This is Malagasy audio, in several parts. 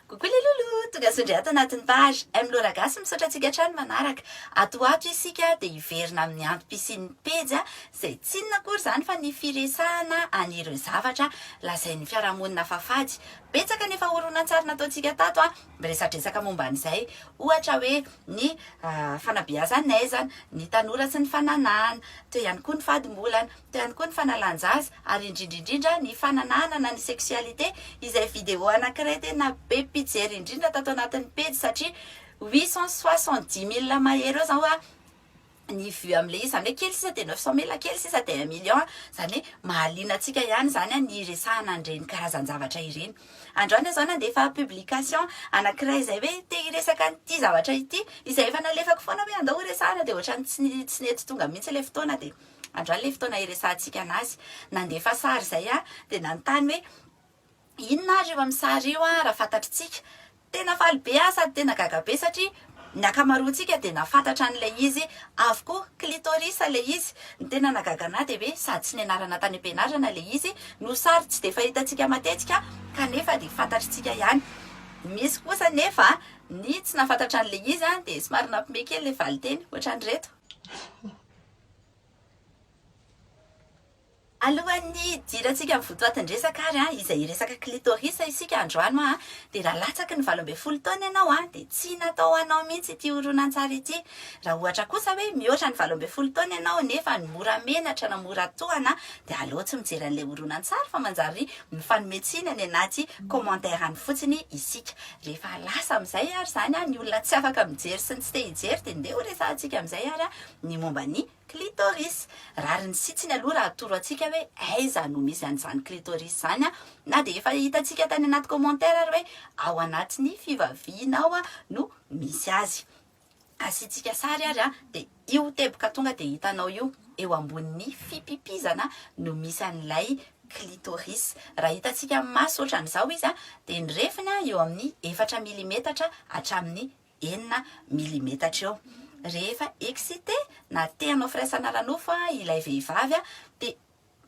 Coucou les loulous, tonga soa indray ato anatin'ny page M Lola Gasy, misaotra antsika hatrany manaraka. Ato ho ato isika dia hiverina amin'ny antom-pisian'ny pejy izay tsy inona akory izany fa ny firesahana an'ireo zavatra lazain'ny fiarahamonina fa fady. Betsaka ny efa horonantsary nataontsika tato, miresadresaka momba an'izay, ohatra hoe ny ah, fanabeazan'aizana, ny tanora sy ny fananahana, teo ihany koa ny fadimbolana. ihany koa ny fanalan-jaza ary indrindra indrindra ny fananahana ny sexualité izay vidéo anankiray tena be mpijery indrindra tato anatin'ny pejy satria huit cent soixante dix mille mahery eo izany hoa ny vue amin'ilay izy izany hoe kely sisa dia neuf cent mille kely sisa dia un million izany hoe mahaliana antsika ihany izany ny hiresahana an'ireny karazan-javatra ireny androany aho izao nandefa publication anankiray izay hoe te hiresaka an'ity zavatra ity izay efa nalefako foana hoe andao horesahana dia ohatran'ny tsy nety tonga mihitsy ilay fotoana dia Androany ilay fotoana hiresahantsika an'azy. Nandefa sary izay aho, dia nanontany hoe, Inona ary io amin'ny sary io an, raha fantatr'tsika? Tena faly be aho sady tena gaga be satria ny ankamaroantsika dia nahafantatra an'ilay izy avokoa. Clitoris ilay izy. Ny tena nahagaga an'ahy dia hoe sady tsy nianarana tany am-pianarana ilay izy no sary tsy dia fahitantsika matetika kanefa dia fantatr'tsika ihany. Misy kosa anefa ny tsy nahafantatra an'ilay izy dia somary nampime kely ilay valinteny, ohatran'ireto. Alohan'ny hidirantsika amin'ny votoatin-dresaka ary izay hiresaka clitoris isika androano dia raha latsaky ny valo ambin'ny folo taona ianao dia tsy natao ho anao mihitsy ity horonantsary ity. Raha ohatra kosa hoe mihoatra ny valo ambin'ny folo taona ianao nefa mora menatra na mora tohana dia aleo tsy mijery an'ilay horonantsary fa manjary mifanome tsiny any anaty commentaires any fotsiny isika. Rehefa lasa amin'izay ary izany ny olona tsy afaka mijery sy ny tsy te hijery dia ndeha horesahantsika amin'izay ary ny momba ny clitoris. Rariny sitsiny aloha raha atoro antsika hoe aiza no misy an'izany clitoris izany an! Na dia efa hitantsika tany anaty commentaire ary hoe ao anatin'ny fivaviana ao no misy azy. Asiantsika sary ary an, dia io teboka tonga dia hitanao io, eo ambonin'ny fipipizana no misy an'ilay clitoris. Raha hitantsika amin'ny maso ohatran'izao izy an, dia ny refiny eo amin'ny efatra milimetatra hatramin'ny enina milimetatra eo. Rehefa excitée na te hanao firaisana ara-nofo ilay vehivavy dia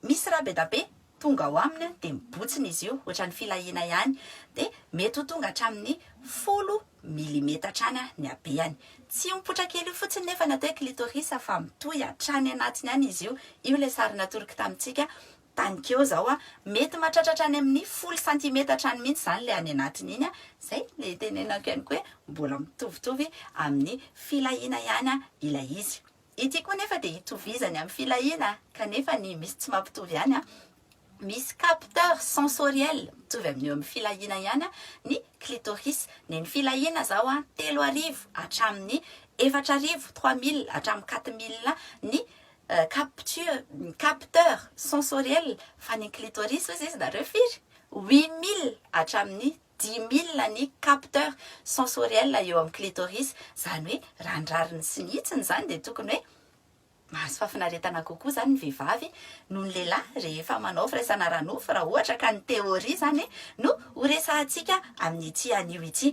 misy rà be da be tonga ao aminy dia mibotsina izy io ohatran'ny filahiana ihany dia mety ho tonga hatramin'ny folo milimetatra any ny habeany. Tsy io mipoitra kely io fotsiny nefa ny atao hoe clitoris fa mitohy hatrany anatiny any izy io. Io ilay sary natoroky tamintsika Tany keo izao a, mety matratratra any amin'ny folo santimetatra any mihitsy izany ilay any anatiny iny a, izay ilay itenenako ihany koa hoe mbola mitovitovy amin'ny filahiana ihany ilay izy. Ity koa nefa dia itovizany amin'ny filahiana kanefa ny misy tsy mampitovy ihany a, misy capteur sensoriel mitovy amin'ny eo amin'ny filahiana ihany ny clitoris. Ny an'ny filahiana izao a, telo arivo hatramin'ny efatra arivo, trois mille hatramin'ny quatre mille ny capture ny capteur sensoriel fa ny clitoris hozy izy nareo firy? huit mille hatramin'ny dix mille ny capteur sensoriel eo amin'ny clitoris izany hoe raha ny rariny sy ny hitsiny izany dia tokony hoe mahazo fahafinaretana kokoa izany ny vehivavy noho ny lehilahy rehefa manao firaisana ara-nofo raha ohatra ka ny théorie izany no Ho resahantsika amin'ity anio ity.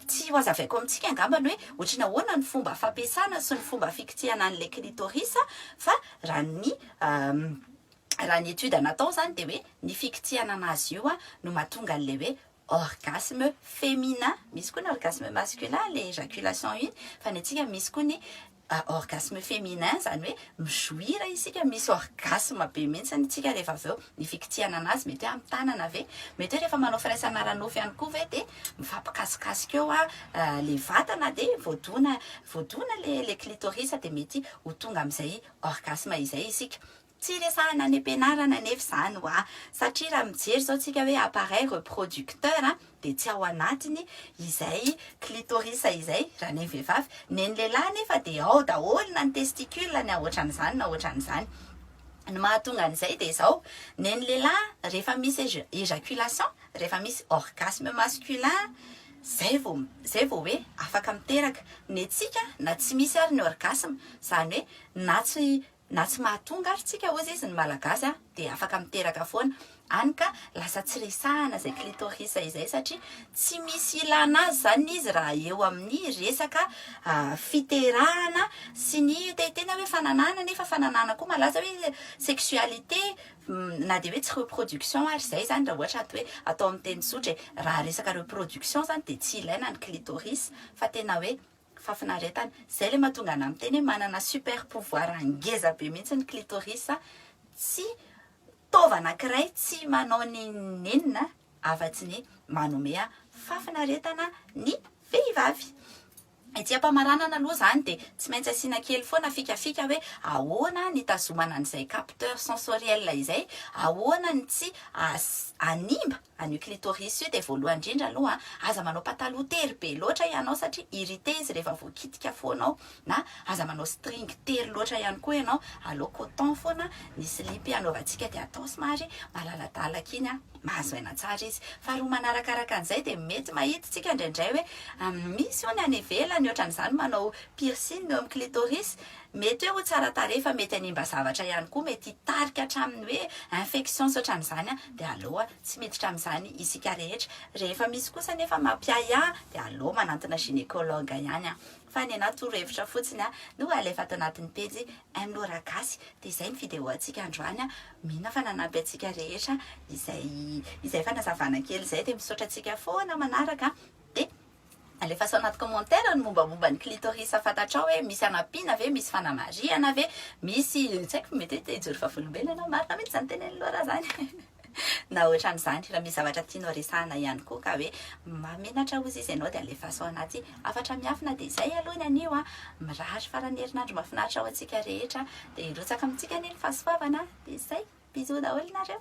Tsy ho hazavaiko amintsika angamba ny hoe ohatry ny ahoana ny fomba fampiasana sy ny fomba fikitihana an'ilay clitoris fa raha ny raha ny étude natao izany dia hoe ny fikitihana an'azy io no mahatonga an'ilay hoe orgasme féminin. Misy koa ny orgasme masculin, ilay éjaculation iny, fa ny antsika misy koa ny orgasme féminin izany hoe mi-jouir isika, misy orgasme be mihitsy isika rehefa avy eo, ny fikitsihana an'azy, mety hoe amin'ny tanana ve, mety hoe rehefa manao firaisana ara-nofo ihany koa ve dia mifampikasikasika eo ilay vatana dia voadona, voadona ilay clitoris dia mety ho tonga amin'izay orgasme izay isika. Tsy resahana any am-pianarana anefa izany hoa, satria raha mijery izao tsika hoe appareil reproducteur dia tsy ao anatiny izay clitoris izay raha ny vehivavy, ny an'ny lehilahy anefa dia ao daholo na ny testicule na ohatran'izany na ohatran'izany. Ny mahatonga an'izay dia izao, ny an'ny lehilahy rehefa misy ejaculation, rehefa misy orgasme masculin izay vao izay vao hoe afaka miteraka, ny antsika na tsy misy ary ny orgasme, izany hoe na tsy Na tsy mahatonga ary tsika ozy izy ny malagasy a dia afaka miteraka foana, any ka lasa tsy resahana izay clitoris izay satria tsy misy ilana azy izany izy raha eo amin'ny resaka fiterahana sy ny tehitena hoe fananahana nefa fananahana koa malaza hoe sexualité na dia hoe tsy reproduction ary izay izany raha ohatra hoe atao amin'ny teny tsotra e! raha resaka reproduction izany dia tsy ilaina ny clitoris fa tena hoe Fafinaretana. Zay le mahatonga anah miteny hoe manana super pouvoir ngeza be mihitsy ny clitoris tsy taova anakiray tsy manao n'inon'inona afatsy ny manome fafinaretana ny vehivavy. Etsy ampamaranana aloha zany dia tsy maintsy asiana kely foana fikafika hoe ahoana ny hitazomana an'izay capteur sensoriel izay, ahoana ny tsy hanimba An'io clitoris io dia voalohany indrindra aloha aza manao pataloha tery be loatra ianao satria irrité izy rehefa voakitika foana ao na aza manao string tery loatra ihany koa ianao aleo coton foana ny slip anaovantsika dia atao somary malaladalaka iny an mahazo aina tsara izy faharoa manarakaraka an'izay dia mety mahitntsika indraindray hoe misy hono any ivelany ohatran'izany manao piercing eo amin'ny clitoris Mety hoe ho tsara tarehy fa mety hanimba zavatra ihany koa, mety hitarika hatramin'ny hoe infections ohatran'izany dia aleo tsy miditra amin'izany isika rehetra. Rehefa misy kosa nefa mampiahiahy dia aleo manantona gynécologue ihany fa ny anah torohevitra fotsiny no alefa ato anatin'ny pejy MLora Gasy. Dia izay ny vidéo antsika androany, mino aho fa nanampy antsika rehetra izay izay fanazavana kely izay dia misaotra antsika foana manaraka dia Alefaso anaty commentaire ny mombamomba ny clitoris fatatrao hoe misy anampiana ve, misy fanamarihana ve, misy tsy haiko mety hoe te hijoro vavolombelona marina mihitsy zany tenen'i Laura zany na otran'izany, raha misy zavatra tianao resahana ihany koa ka hoe mahamenatra ozy izy ianao dia alefaso anaty hafatra miafina dia izay aloha ny anio an, mirary faran'ny herinandro mahafinaritra ho antsika rehetra dia hirotsaka amintsika anie ny fahasoavana dia izay, bisous daholo nareo.